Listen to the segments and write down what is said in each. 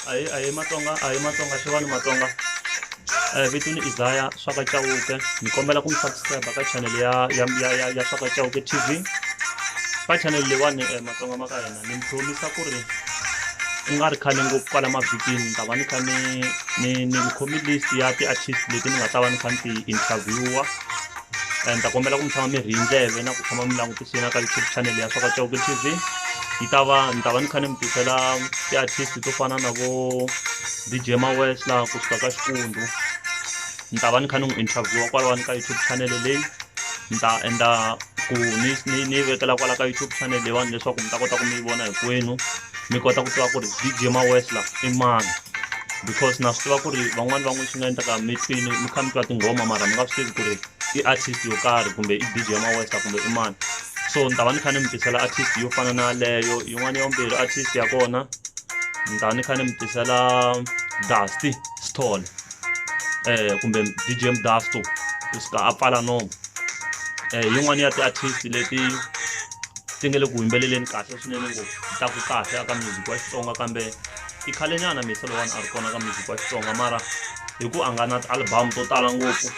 a hi a hi matsonga a hi matsonga xewani matsonga um vito ni isaya swaka chauke ni kombela ku mi subscribe ka channel ya ya ya ya, ya swaka chauke tv ka channel leyiwani um matsonga ma ka hina ni mi promisa ku ri ku nga ri khale ngopfu kwala mavhikini ni ta va ni kha ni ni ni khomi list ya ti-artist leti ni nga ta va ni kha ni ti-interviewer and ta kombela ku mi tshama mi ri ndleve na ku tshama mi langutise na ka youtube channel ya swaka chauke tv yi ta va ni ta va ni kha ni mi tisela ti-artist to fana na vo dj mawes laha kusuka ka xikundu ni ta va ni kha ni n'wi interviewa kwalawani ka youtube channel leyi ni ta endla ku ni ni ni yi vekela kwala ka youtube channel leyiwani leswaku mi ta kota ku mi yi vona hinkwenu mi kota ku tiva ku ri DJ Mawesla i mani because na swi tiva ku ri van'wani van'we swi nga endlaka mi twini mi kha mi twa tinghoma mara mi nga swi tivi ku ri i artist yo karhi kumbe i DJ Mawesla kumbe i mani so ni ta va ni kha ni mi tisela artist yo fana na leyo yin'wana ya vumbirhi artist ya kona ni ta ni kha ni mi tisela Dusty Stone eh kumbe DJ Mdasto ku suka a pfala nomo eh yin'wana ya ti-artist leti ti nga le ku yimbeleleni kahle swinene ngopfu ta ku kahle aka music wa xitsonga kambe i khale nyana misa lowani a ri kona ka music wa xitsonga mara hi ku a nga na ti-album to tala ngopfu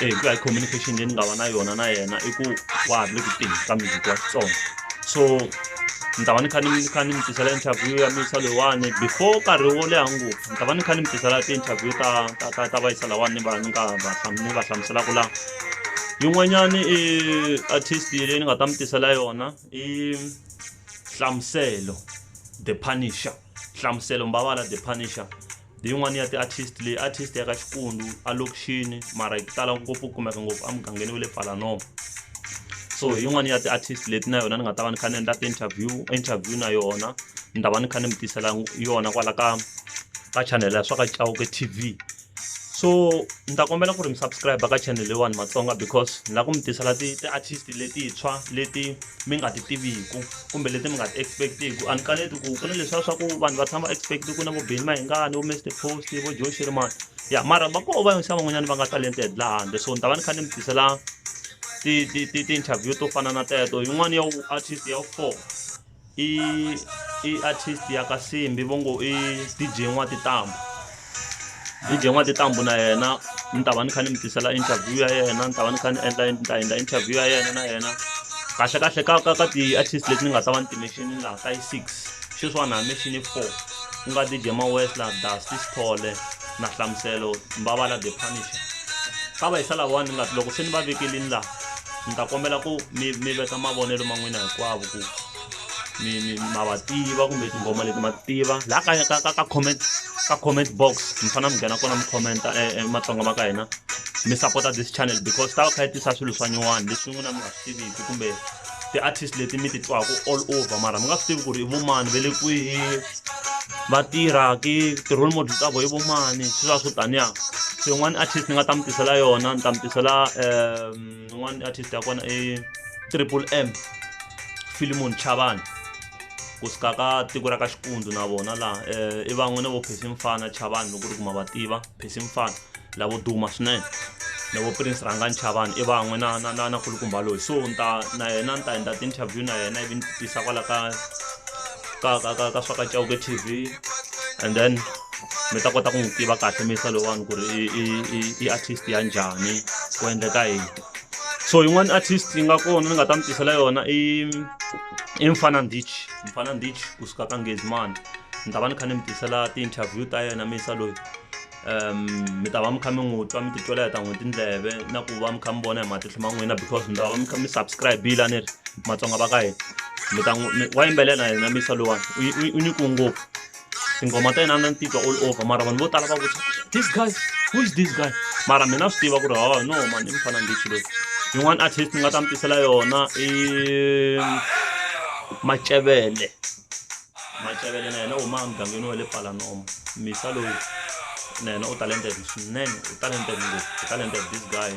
e hi ku ya hi communication leyi ni nga va na yona na yena i ku wa ha ri le ku teni ka music wa xitsonga so ni ta va ni kha ni kha ni mi tisela interview ya misa lowani before nkarhi wo leha ngopfu ni ta va ni kha ni mi tisela ti-interview ta ta ta ta vayisa lawani ni va ni nga va ni va hlamuselaka laha yin'wanyani i artist leyi ni nga ta mi tisela yona i hlamuselo the punisher hlamuselo mbavala the punisher hi yin'wana ya ti-artist leyi artist ya ka xikundu alokixini mara yi tala ngopfu ku kumeka ngopfu emugangeni wa le palanova so hi yin'wana ya ti-artist leti na yona ni nga ta va ni kha ni endla ti-interview interview na yona ni ta va ni kha ni mi tisela yona kwala ka ka chanele ya swa ka cawuke tv so ni ta kombela ku ri mi subscribe ka channel leyiwani matsonga because ni lava ku mi tisela ti-artist letintshwa leti mi nga ti tiviku kumbe leti mi nga ti expect-iku a ni kaneti ku ku na leswiya swa ku vanhu va tshama va expect-i ku na vo beni mahingani vo mr post vo joe shirimani ya mara va koho va yonisa van'wanyana va nga talented laha handle so ni ta va ni kha ni mi tisela ti-interview to fana na teto yin'wana ya artist ya four i i artist ya ka simbi vo ngo i dj n'watitambo dj n'watitambo na yena ni ta va ni kha ni mi tisela interview ya yena ni ta va ni kha ni endla ni ta endla interview ya yena na yena kahle kahle ka ka ka ti-artist leti ni nga ta va ni timexini laha ka yi six xeswiwani ha mexini four ku nga dj mawesla dusty sithole na hlamuselo mbavala the punisher ka va yisa lavawani ni nga loko se ni va vekelini laha ni ta kombela ku mi mi veka mavonelo ma n'wina hinkwavo ku mi mi ma va tiva kumbe tinghoma leti ma tiva laha ka ka ka ka comment ka comment box mi fanele mi nghena kona mi commenta e, e, matsonga ma ka hina mi sapota this channel because ta va kha yi tisa swilo swa nyuwani leswi n'wina mi nga swi tiviki kumbe ti-artist leti mi ti twaka all over mara mi nga swi tivi ku ri i vumani ve le kwihi va tirha ki ti-role model ta vo i vumani swi va swo taniya so yin'wana artist ni nga ta mi tisela yona ni ta mi tisela um un'wana mm, artist ya kona i triple m filimon chavani ku suka ka tiko ra ka xikundu na vona laha um i van'we na vo phesi mfana chavani loko ri kuma va tiva phesi mfana lavo duma swinene na vo prince rhanga nchavani i van'we na na na na kulukumba loyi so ni ta na yena ni ta endla ti-interview na yena ivi ni tisa kwala ka ka ka ka ka swa ka chauke tv and then mi ta kota ku n'wi tiva kahle misa lowani ku ri i i i i artist ya njhani ku endleka yini so yin'wana artist yi nga kona ni nga ta mi tisela yona i i mfana ndich mfana ndich kusuka ka ngezimani ni ta va ni kha ni mi tisela ti-interview ta yena misa loyi um mi ta va mi kha mi n'wi twa mi titwela hi ta n'wi tindleve na ku va mi kha mi vona hi matihlo ma n'wina because mi ta va mi kha mi subscribe-ile a ni ri matsonga va ka hina mi ta n'wi wa yimbelela yena misa lowani u nyikiwe ngopfu tinghoma ta yena na ni titwa all over mara vanhu vo tala va vutisa this guy who is this guy mara mina swi tiva ku ri hawa no mani i mufana ndichi loyi yin'wana artist ni nga ta mi tisela yona i macevele macavele na yena u huma emugangeni wa le palanomo misa loyi na yena u talented swinene u talented ngopfu u talented this guy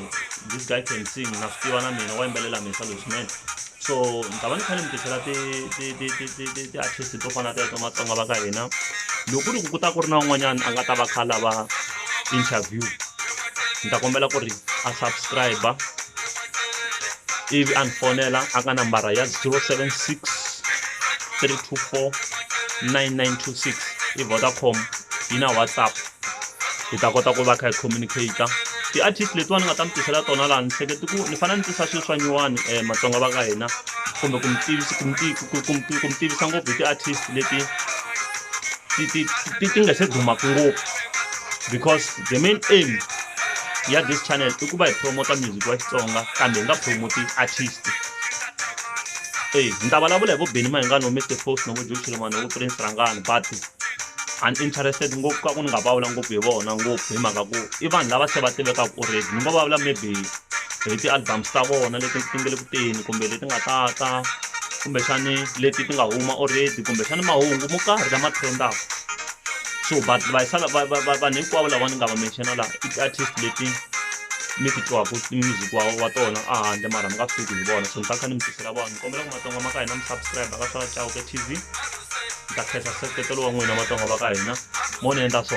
this guy can sing na swi tiva na mina wa yimbelela misa loyi swinene so ni ta va ni kha ni mi tisela ti-artist to fana teto matsonga va ka hina loko ku ri ku ku ta ku ri na un'wanyana a nga ta va kha lava interview ni ta kombela ku ri a subscribe ivi a ni fonela a ka nambara ya 076 324 9926 i vodacom yi na whatsapp hi ta kota ku va kha hi communicator ti-artist letiwani ni nga ta mi tisela tona laha ni hleketi ku ni fanele ni tisa swilo swa nyuwani um eh, matsonga va ka hina kumbe ku mi tivisa ku mi tivisa ngopfu hi ti-artist leti ti nga se dumaka ngopfu because the main aim ya this channel i ku va hi promota music wa xitsonga kambe hi nga promoti artist eyi ni ta vulavula hi vo Benny Mayengani vo Mister Post na vo Joe Shilimane vo Prince Rhangani but I'm interested ngopfu ka ku ni nga vulavula ngopfu hi vona ngopfu hi mhaka ku i vanhu lava se va tivekaka already ni ngo vulavula maybe hi ti-albums ta vona leti ti nge le ku teni kumbe leti nga ta ta kumbexani leti ti nga huma already kumbexani mahungu mo karhi lama trendaka so but vanhu hinkwavo lava ni nga va mention-a laha i ti-artist leti mi ti twaku music wa wa tona a handle mara mi nga swi tivi ku hi vona so ni ta kha ni mi tisela vona ni kombela ku matsonga ma ka hina mi subscribe ka swa chauke tv ni ta khensa nseketelo wa n'wina matsonga va ka hina mo ni endla so